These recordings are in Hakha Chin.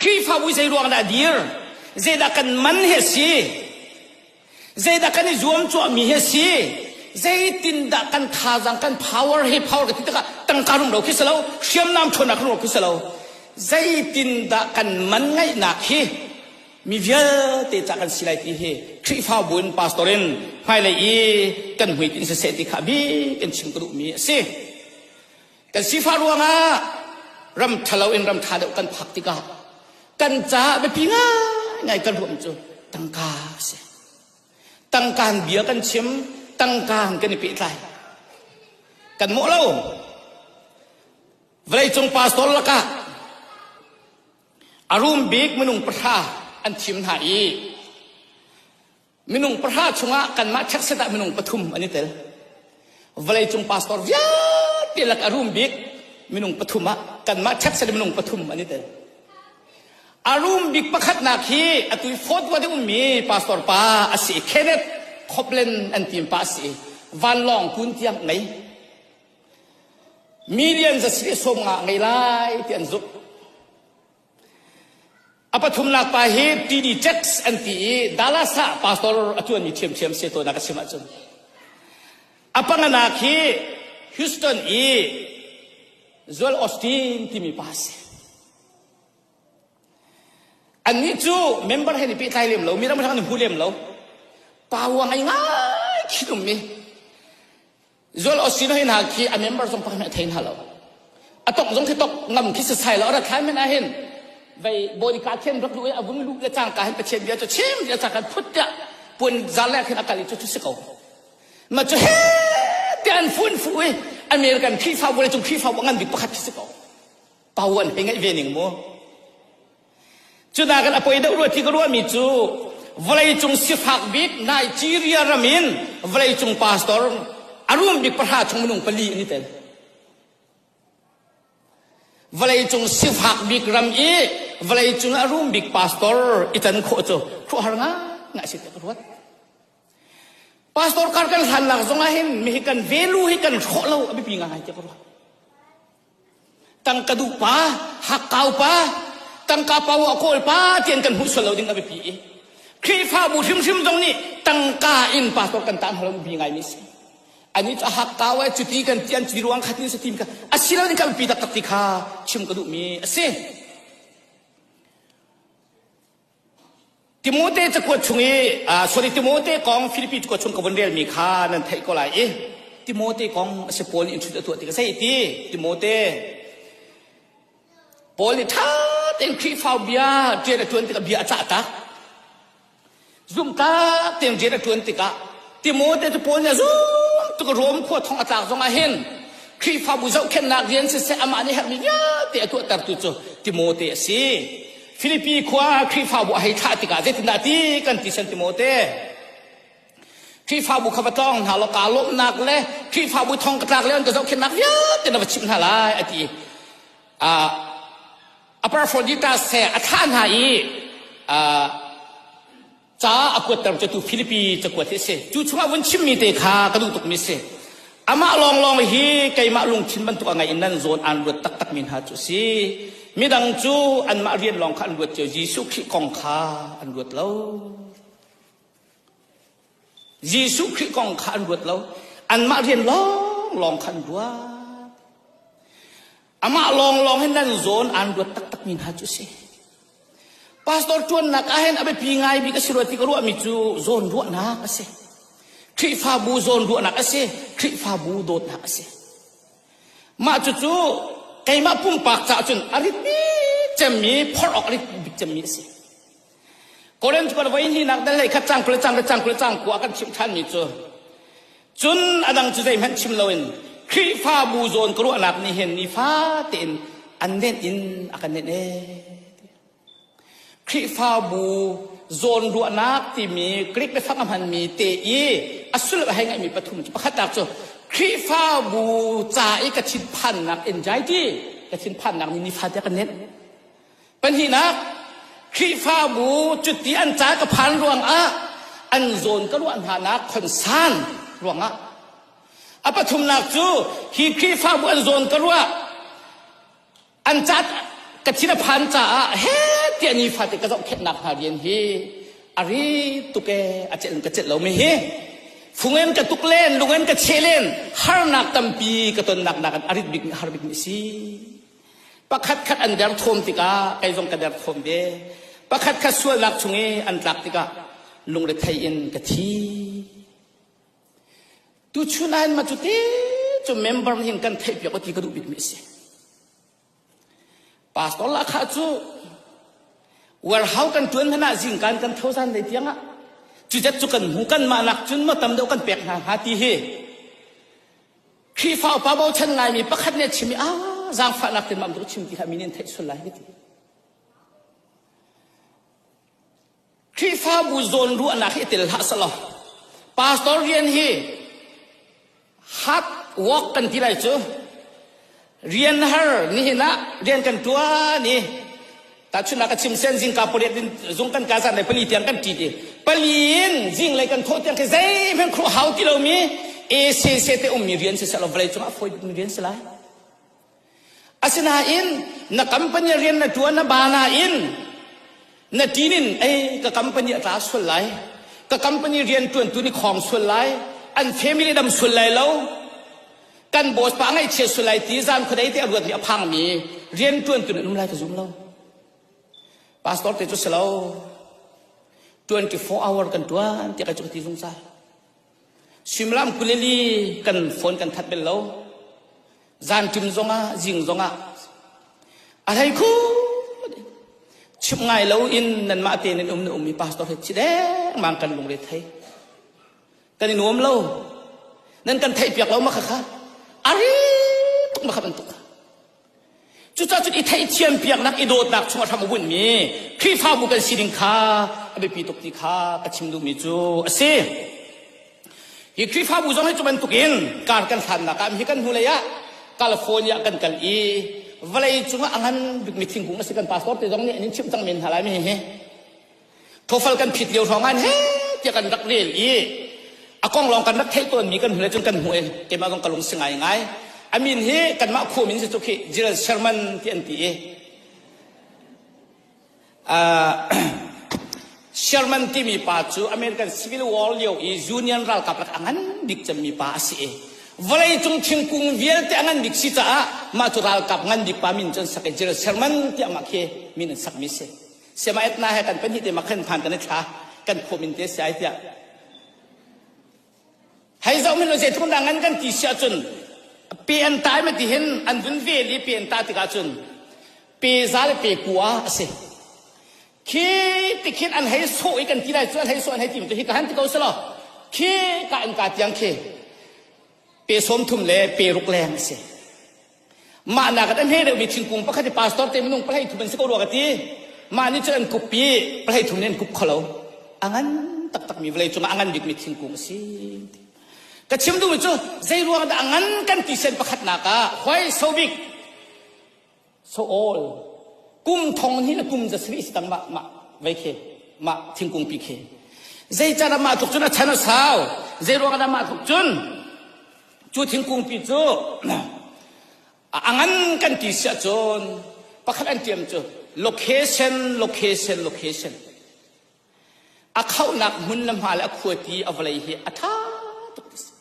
Khrihfabu zeiruang dah a dir? Zeidah kan man hi a si? Zeidah kan i zuamcuahmi hi a si? Zeitindah kan thazaang, kan power hi power ka ti tikah tangka rum lo khi si lo, hriamnam ṭhawnnak rum lo khi si lo, zeitindah kan man ngaihnak hi mi vialte ca kan si lai ti hi Khrihfabu in pastor in hmailei i kan hmuitinh siseh ti kha a bikin chim ka duhmi a si. kan sifah ruangah ram ṭhalo in ram ṭha deuh kan phak tikah kan caah biapi ngaingai kan ruam cu tangka a si tangkaan bia kan chim tangkaan kan i pehtlai kan mawh lo vawleicung pastor lakah a rum bik minung pahra an thim hna i minung pahra chungah kanmah checkset ah minung pathum an i tel vawleicung pastor vialte lak a rum bik minung pathum ah kanmah checkset minung pathum an i tel a rum bik pakhatnak hi atu i fourth ward ummi pastor pa a si Kenneth Copland an team pa a si vanlawng kun tiang ngei millions a si sawm nga ngei lai ti an zumh A pathumnak pa hi Tini Checks an ti i Dallas ah pastor a ṭuanmi ṭhiamṭhiam si tawnnak a chim ahcun a panganak hi Houston i Joel Osteen timi pa a si. Annih cu member he ni pehtlai lem lo, mi dang hrang ni hmu lem lo, pa uang ai ngai khin ummi, Zual osino hin ha khi a member zong pakhat a thei hna lo. A tok zong khi tok ngam khi sasai lo ara thlai men a hin. Vei bonika thiên rak lu a vun lu le cang ka hin pathian bia cu chim dia cang kan phut dia puan zal le khin akali cu chu si ko. Ma cu he ti an fun fu i American Khrihfa bu le cung Khrihfa bu ngan bik pakhat khi si ko. Pau an hei ngai ve ning mu. Cunakin a poi deuh rua ti ka ruahmi cu vawleicung sifak bik Nigeria ram in vawleicung pastor a rum bik pahra chung minung pali an i tel. Vawleicung sifak bik ram i vawleicung a rum bik pastor i tan khawh cu khuahar nga nga si ka ruat. Pastor kar kan hlan lak zongah hin mi hi kan velu hi kan hrawh lo a biapi ngai ti ka ruat. Tangka duh pa, hakkau pa, tangka pa a kawl pa tian kan hmuh sual lo ding a biapi i Khrihfabu hrimhrim zong nih tangka in pastor kan tah hna lo bi ngai mi si. Ani cu a hakkau ai cuti kan tian cuti ruang khat ni sa tim ka a si lo ning kan pi taktak ti kha chim ka duh mi a si. Timote cakuat chung i sorry Timote kong Filipi cakuat chung ka vun relmi kha nan theih ko lai i Timote kong a si Paul nih in ṭhut a tuah ti ka sei ti Timote Paul nih ṭha tein Khrihfa bia ṭian a ṭuan tikah bia a cah tak zumhtak tein rian a ṭuan tikah Timote cu Paul nih a zum tuk Rom khua thong a tlak zongah hin Khrihfabu zohkhenhnak rian siseh amah nih herhmi vialte a tuahtertu cu Timote a si. Filipi khua ah Khrihfabu a hei thlah tikah zeitindah ti kan ti sen Timote. Khrihfabu kha va tlawng hna law kaa lawmhnak le Khrihfabu thong ka tlak le an ka zohkhenhnak vialte na va chimh hna lai a ti. Uh, Apophrodita se a thlah hna i uh, ca a kuatter cu tu Philippi cakuat hi a si cu chungah vun chimmi te kha ka duh tukmi a si amah lawnglawng hi keimah lungthin bantuk a ngei in nan zawn aan ruat taktakmi hna cu si midang cu anmah rian lawng kha an ruat cio Jesuh Khrih kong kha an ruat lo Jesuh Khrih kong kha an ruat lo anmah rian lawng lawng kha an ruat Amah lawnglawng hin nan zawn aan ruat taktakmi hna cu a si. Pastor ṭuannak ahhin a biapi ngaimi ka si rua ti ka ruahmi cu zawn ruahnak a si. Khrihfabu zawn ruahnak a si. Khrihfabu dawtnak a si. Mah cucu keimah pumpak caah cun a rit bik cemmi, phorh awk a rit bik cemmi a si. Korean cu kan voi hnih nak dal hlei khat cang kul le cang kul le cang kul le cang kua kan chimh thanmi cu cun adang cu zeihmanh chim loin Khrihfabu zawn ka ruahnak nih hin nifa tein an nenh in a kan nenh ee Khrihfabu zawn ruahnak timi Greek le fak a hmanmi te i a sulh a hei ngaihmi pathum cu pakhatnak cu Khrihfabu ca i ka thinphannak anxiety ka thinphannak nih nifate a kan nenh Pahnihnak, Khrihfabu cuti an ca ka phan ruangah an zawn ka luah hnanak khonsan ruangah. A pathumnak cu hi Khrihfabu an zawn ka ruah an ca ka thin a phan caah he tiah ni fate ka zohkhenhnak hna rian hi a ri tuke a celh in ka celh lo mi hi fungen ka tuk len lungen ka che len harnak tampi ka tonnak nakin a rit bik har bik mi si pakhatkhat an derthawm tikah kei zong ka derthawm ve pakhatkhat sualnak chung i an tlak tikah lungrethei in ka thi tu chunain ma cu te cu member nih kan theihpiak ti ka duh bikmi a si pastor lakha cu warhau kan tuan hnan ah zingkan kan thozan dei tiangah cucat cu kan hmu kan mah nak cun mo tam deuh kan pek hna hnga ti hi Khrihfa upa bochan Laimi pakhat nih a chim i a zaangfahnak tin mam duh chim ti kha mi nih an theih sual lai ka ti. Khrihfabu zawn ruahnak hi itel hlah selaw pastor rian hi hard work kan ti lai cu rian har nihin ah rian kan tuan i tahchunhnak ka chim sen zingka pariat in zung kan ka zan le pali tiang kan ṭit i pali in zing lei kan thaw tiang khi zeihmanh khuh hau ti lomi ACC te ummi rian si selaw vawlei cungah fawi bikmi rian si lai asinain na company rian na ṭuan na ba nain na tin in ei ka company a tla sual lai ka company riantuantu ni khawng sual lai an family dam sual lai lo kan boss pa ngaihchia sual lai ti zan khuadei te a ruatmi a phangmi riantuantu nan um lai ka zum lo pastor te cu si lo 24 hour kan tuan ti kai cu ka ti zungzal Suimilam kulili kan phone kan that bel lo. Zan ṭim zongah, zing zongah a hlei khu chim ngai lo in nanmah te nan um na um mi pastor he chi dengmang kan lungre thei kan in nuam lo nan kan theih piak lo ma khakha ari ma khap an tuk Cucacun i theihthiam piaknak i dawtnak chungah hram a bunhmi Khrihfabu kan si ding kha a biapi tuk ti kha ka chim duhmi cu a si. Hi Khrihfabu zong hi cu bantukin kar kan hlannak ah hi kan hnulei ah California kan kal i vawlei cungah a ngan bikmi thingkung a si kan pastor te zong nih an in chimh cang men hna lai mi hi thofal kan phit lio hrawng an he tiah kan rak rel i a kong lawng kan rak theih tawnmi kan hmule cun kan hmuh i keimah zong ka lung si ngai ngai a min hi kanmah khu min si cu khi Gerald Sherman ti an ti i uh, Sherman timi pa cu American Civil War lio i Union ralkap lak a ngan bik cemmi pa a si i vawlei cung thingkung vialte a ngan bik si caah mah cu ralkap ngan bik pa min cun sak i Gerald Sherman tiah mah khi min an sakmi si Siamaetna he kan pahnih te ma khan phan kan i thla kan khawm in te sai tiah hei zoh min zei thung dang an kan ti si ahcun pe an tai ma ti hin an vun ve li pe an ta tikah cun pe za le pe kua a si khi tikhin an hei so i kan ti lai cu an hei so an hei tim tu hi ka han ti ko selo khi ka an ka tiang khi pe som thum le pe ruk leng a si Mah nak an hei reuhmi thingkung pakhat hi pastor te minung pahleih thum an si ko rua ka ti. Mah nih cun an kup i pahleih thum nih an kup kho lo. A ngan taktakmi vawlei cungah a ngan bikmi thingkung a si. Ka chim duhmi cu zei ruang dah a ngan kan ti sen pakhatnak ah hoi so big so all kum thong ni le kum za sari si tang mah mah vei khi mah thingkung pi khi zei car mah tluk cun a chan a sau zei ruang dah mah tluk cun Cu thingkungpi cu a ngan kan ti siah cun pakhat an tiam cu location location location a khauhnak hmun le hma le a khuati a vawlei hi a ṭha tuk ti si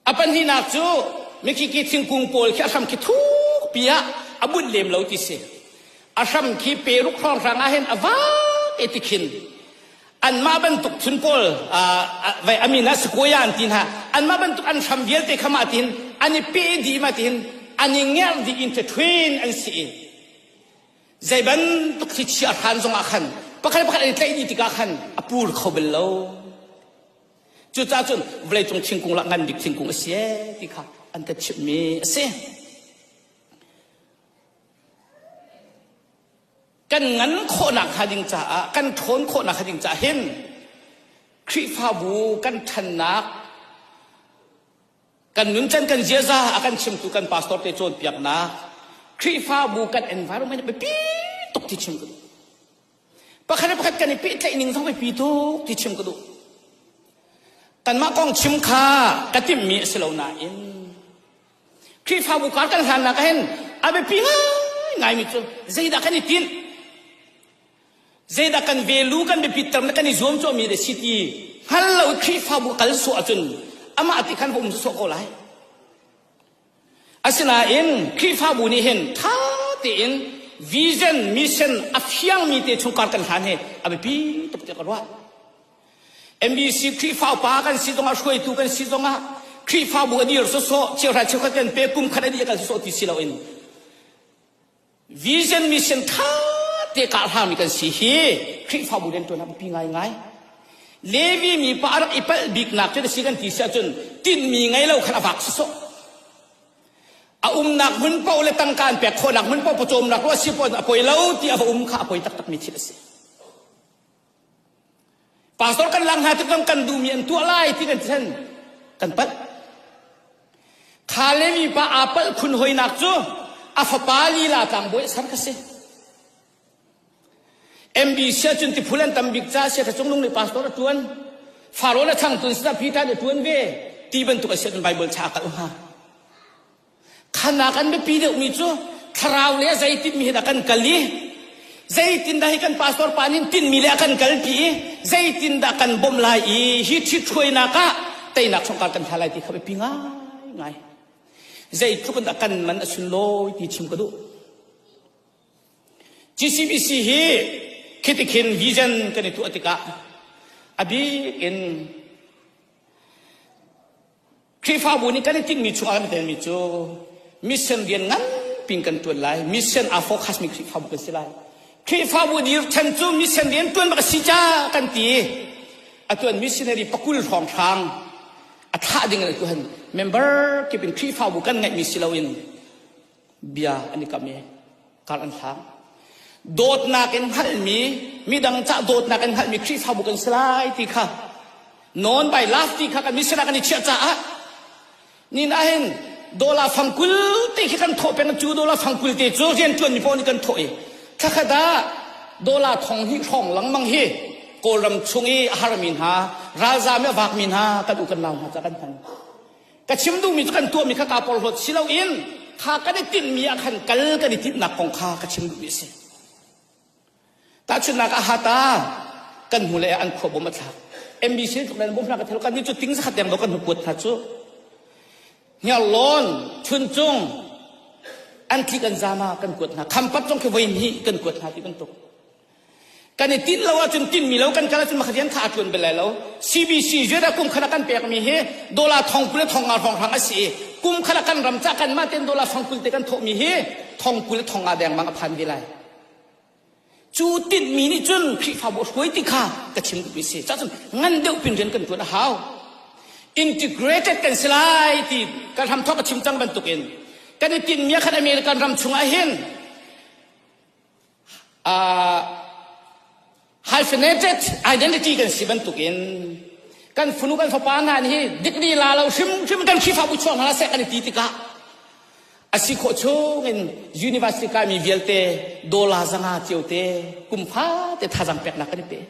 a pahnihnak cu mikiki thingkung pawl khi a hram khi thuk pi ah a bunh lem lo ti si a hram khi peruk hrawng hrang ah hin a vak e tikhin anmah bantuk phun pawl a min ah sequoia an ti hna anmah bantuk an hram vialte kha ma tin an i pe dih ma tin an i ngerh dih in ṭhithuin an si i zei bantuk thlichia hran zongah khan pakhat pakhat an i tlaih dih tikah khan a pur kho bel lo cucaah cun vawleicung thingkung lah ngan bik thingkung a si e ti kha an ka chimhmi a si kan ngan khawhnak hnga ding caah kan ṭhawn khawhnak hnga ding caah hin Khrihfabu kan ṭhannak kan nuncan kan ziaza a kan chimtu kan pastor te cawnpiaknak Khrihfabu kan environment biapi tuk ti chim ka duh pakhat le pakhat kan i pehtlaih ning zong biapi tuk ti chim ka duh tanmah kong chim kha ka timhmi a si lo nain Khrihfabu kar kan hlannak ah hin a biapi ngaingaimi cu zeidah kan i tinh? Zeidah kan velu kan biapitter le kan i zuam cawmi deh si ti hngal lo i Khrihfabu kal sawh ahcun amah ti khan va um sawh ko lai. Asinain Khrihfabu nih hin ṭha tein vision, mission a fiangmi te chungkar kan hlan hi a biapi tuk tiah ka ruah. MBC Khrihfa upa kan si zongah hruaitu kan si zongah Khrihfabu a dir sawsawh chiahra cheukhat kan pe kum khat a dih a kal sawh ti si loin vision mission tha te ka hlarmi kan si hi Khrihfabu riantuan pi ngaingai Levi mi pa rak i palh biknak cu si kan ti si ahcun tinmi ngei lo khan a vak sawsawh a umnak hmun paoh le tangkaan pek khawhnak hmun paoh pawcawmnak ruah si paoh a poi lo ti a va um kha a poi taktakmi thil a si Pastor kan laak hna tikah kan duhmi an tuah lai ti kan thlen kan palh. Kha le mipa aa palh khun hoinak cu a fapa lila tlangbawi sar ka si. MB sia cun ti phulan tam bik ca sia ka cung lung le pastor a tuan. Faro le changtun sina pita ne tuan ve ti bantuk a sian Bible cha ka ha. Khanak an biapi deuhmi cu thlarau le zeitimi he dah kan kal i zeitindah hi kan pastor pa nih tinmi le a kan kalpi i zeitindah kan bawmh lai i hi ṭhithruainak ah teinak hrawngkar kan hla lai ti kha biapi ngaingai zeitluk in dah kan man a sunlawi ti chim ka duh GCBC hi khitikhin vision kan i tuah tikah a bik in Khrihfabu nih kan i tinhmi chung ah kan telmi cu mission rian nganpi in kan ṭuan lai. Mission aa focusmi Khrihfabu kan si lai. Khrihfabu dirṭhen cu mission rian ṭuan bak a si ca kan ti i a tuan missionary pakul hrawng hrang a thlah ding in atu han member kip in Khrihfabu kan ngeihmi si loin bia an i kam i kar an hlang dawtnak in hngalmi midang cah dawtnak in hngalmi khrihfabu kan si lai ti kha non by love ti kha kan misira kan i chiah caah nin ahin dola fangkul te khi kan thawh peng cu dola fangkul te cu rian tuan mi pawl nih kan thawh i thlakhat ah dola thong hi hrawng langmang hi kawlram chung i a harmi hna ralzam i a vakmi hna kan u kan lau hna ca kan hman ka chim duhmi cu kan tuahmi kha kaa porhlawt si loin kha kan i tinhmi ah khan kal kan i tinhnak kong kha ka chim duhmi a si tahchunhnak ah hata kan hmu le an khua bom a thlak MBC tluk le bom hna ka thelo kan ni cu ting zakhat deng lo kan kuat hna cu Hniarlawn Chuncung an thli kan zama kan kuat hna Khampat zong khi voi hnih kan kuat hna ti bantuk Kan i tinh lo ahcun tinhmi lo kan kal ahcun mah rian kha aa ṭuan bel lai lo. CBC ZA kum khan a kan pekmi hi dollar thong kul le thong nga hrawnghrang a si i kum khan a kan ram cah kan mah tein dollar thong kul te kan thawhmi hi thong kul le thong nga dengmang a phan ve lai. Cu tinhmi nih cun Khrihfabu hruai ti kha ka chim duhmi si. Cahcun ngan deuh pin rian kan ṭuan a hau. Integrated kan si lai ti kan hram thawk a chim cang bantukin kan i tinhmi khan American ram chungah hin hyphenated identity kan si bantukin kan funu kan fapa hna nih hi dikri la lo hrimhrim kan Khrihfabu chuak hna seh kan i ti tikah a si khawh chungin university kai mi vialte dollar zanga ciote kumfa te thazang peknak kan i pe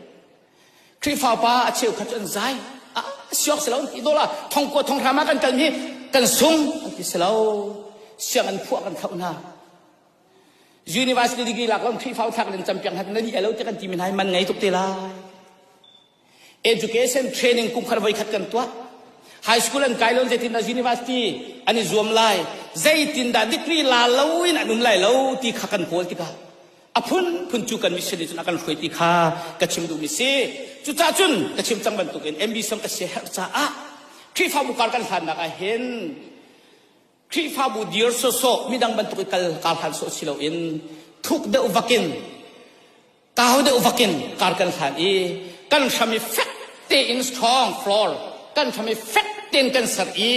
Khrihfa pa a cheu khat an zai a siok se lo ti dollar thong ko thong rama kan kal mi kan sung an ti se lo siang an phuah kan khauh hna University degree lak kan Khrihfa thlak in cam piang han na nih lo ti kan ti men hai man ngei tuk te lai. Education training kum khar voi khat kan tuah. High school an kai lon zeitin da university an i zuam lai zeitin da degree la lo in an um lai lo ti kha kan kawl tikah a phun phun cu kan mission nih cun a kan hruai ti kha ka chim duhmi si cucah cun ka chim cang bantuk in MB som ka si herh caah Khrihfabu kar kan hlannak ah hin Khrihfabu dir sawsawh midang bantuk i kal kaa hlan sawh si loin thuk deuh vakin kau deuh vakin kar kan hlan i kan hram i fek tein strong floor kan hram i fek tein kan ser i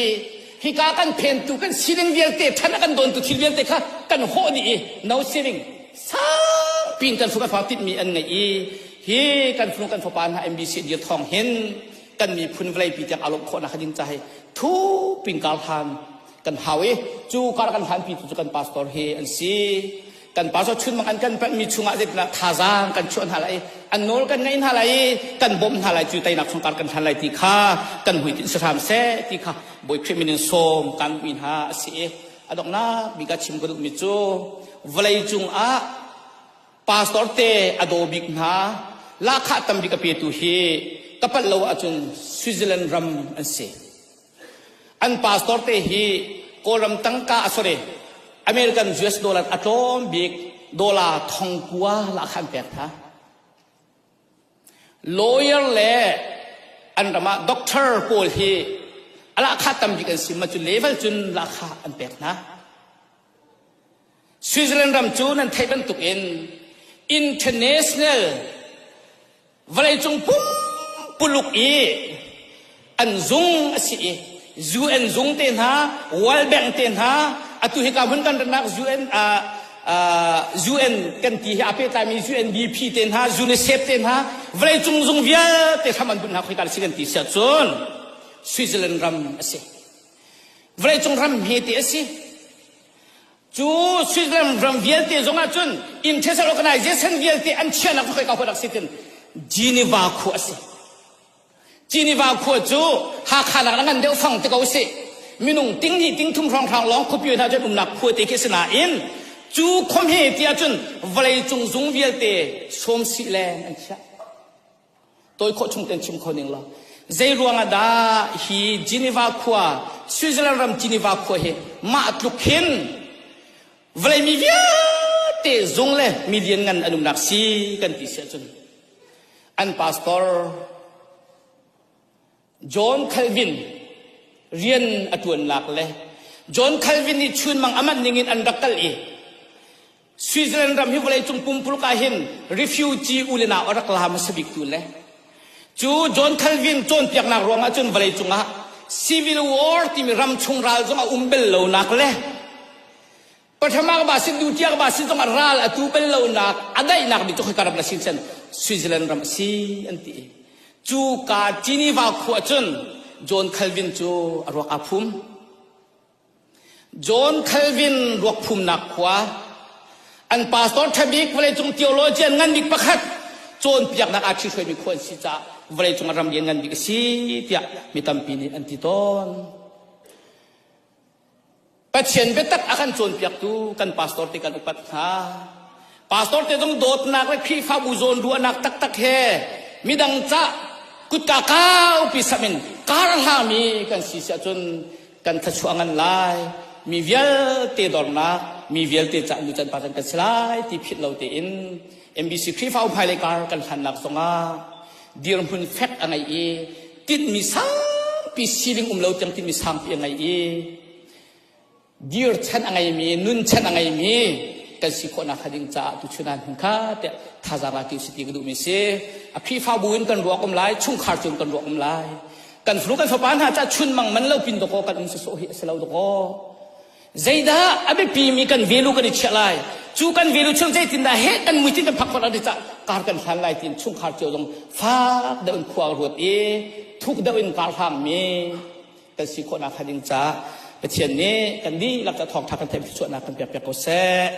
hika kan phentu kan sining vialte ṭhan a kan dawntu thil vialte kha kan hawh dih i no sining sangpi in kan fung kan fa tinhmi an ngeih i hi kan fung kan fapa hna MBC dir thawng hin kan miphun vawleipi tiang a lawmh khawhnak ding ca hi thup in kar hlan kan hau i cu kar kan hlan pi tu cu kan pastor hi an si kan pastor chun bang an kan mi chungah zeitinak thazaang kan chuah hna lai an nawl kan ngaih hna lai kan bawm hna lai cu tainak chung kar kan hlan lai ti kha kan muitin sahram se ti kha boi khrimin som kan mi hna a si adongnak mi ka chim ka duh mi cu vawlei cung ah pastor te a daw bik hna lahkhah tambik a petu hi ka pal lo ahcun Switzerland ram an si an pastor te hi kawlram tangka a sore American US dollar a tlawm bik dollar thongkua lahkhan pek tha lawyer le an ramah doctor pawl hi alahkha tambik an si ma cu level cun lahkha an pek hna Switzerland ram cu nan theih bantuk in international vawleicung pumpuluk i an zung a si i UN zung te hna, World Bank te hna, atu hika hun kan ratnak UN uh, uh, UN kan ti hi a pehtlaimi UNDP te hna, UNICEF te hna, vawleicung zung vialte hram an bunh hna khoi ta si kan ti siah cun Switzerland ram a si. Vawleicung ram hme te a si. Cu Switzerland ram vialte zong ah cun International Organization vialte an chiahnak cu khoika khua dak si tin Geneva khua a si. Geneva khua cu Hakha nak a ngan deuh fang te ko si. Minung ting hnih ting thum hrawnghrang lawng khupi hna cu an umnak khua te khi si nain cu khom he ti ahcun vawlei cung zung vialte sawm sih leng an chiah. tawi khawh chung ten chim kho ning lo zei ruang ah dah hi Geneva khua Switzerland ram Geneva khua hi mah tluk hin vawlei mi vialte zung le mi ngan an umnak si kan ti si ahcun an pastor John Calvin rian a ṭuannak le John Calvin nih chunmang a man ningin an rak kal i Switzerland ram hi vawleicung pumpuluk ah hin refugee u le nau a rak la hmasa biktu le cu John Calvin cawnpiaknak ruang ahcun vawleicung ah civil war timi ram chung ral zong a um bel lonak le Pathama ba sin dutiak ba sin zong ral atu bal lonak a daihnak mi cu khika ram na sin sen Switzerland ram si an ti cu ka Geneva khu ahcun John Calvin cu a ruak aa phum John Calvin ruak phumnak khua an pastor ṭhabik vawleicung theologian ngan bik pakhat cawnpiaknak aa ṭhihruaimi khua an si caah vawleicung ah ram lian ngan bik a si tiah mi tampi nih an ti tawn Pathian biatak a kan cawnpiaktu kan pastor te kan upat hna. Pastor te zong dawtnak le Khrihfabu zawn ruahnak taktak he midang cah kutka kau pi samin kar hngami kan si si ahcun kan thluachuah ngan lai. Mi vialte dornak, mi vialte cah nu can pa kan si lai ti philh lo tein MBC Khrihfa hmailei kar kan hlannak zongah dirhmun fek a ngei i tinhmi sangpi siling um lo tiang tinhmi sangpi a ngei i dir chan a ngeimi nun chan a ngeimi kan si khawhnak hnga ding caah tuchun ah kha tiah thazaang la ti si ti ka duhmi si a khrihfabu in kan ruak um lai chungkhar cu kan ruak um lai kan fanu kan fapa hna cah chun mang man lo pin doko kan um sosawh hi a si lo doko Zeidah a biapimi kan velu kan i chiah lai? Cu kan velu chung zeitindah heh kan muitin kan phak khawh lai cah kar kan hlan lai tiin chungkhar cio zong fak deuh in khua ruat i thuk deuh in kaa hlangmi kan si khawhnak hnga ding caah Pathian nih kan dihlak ah thawngtha kan theih chuahnak kan piakpiak ko seh.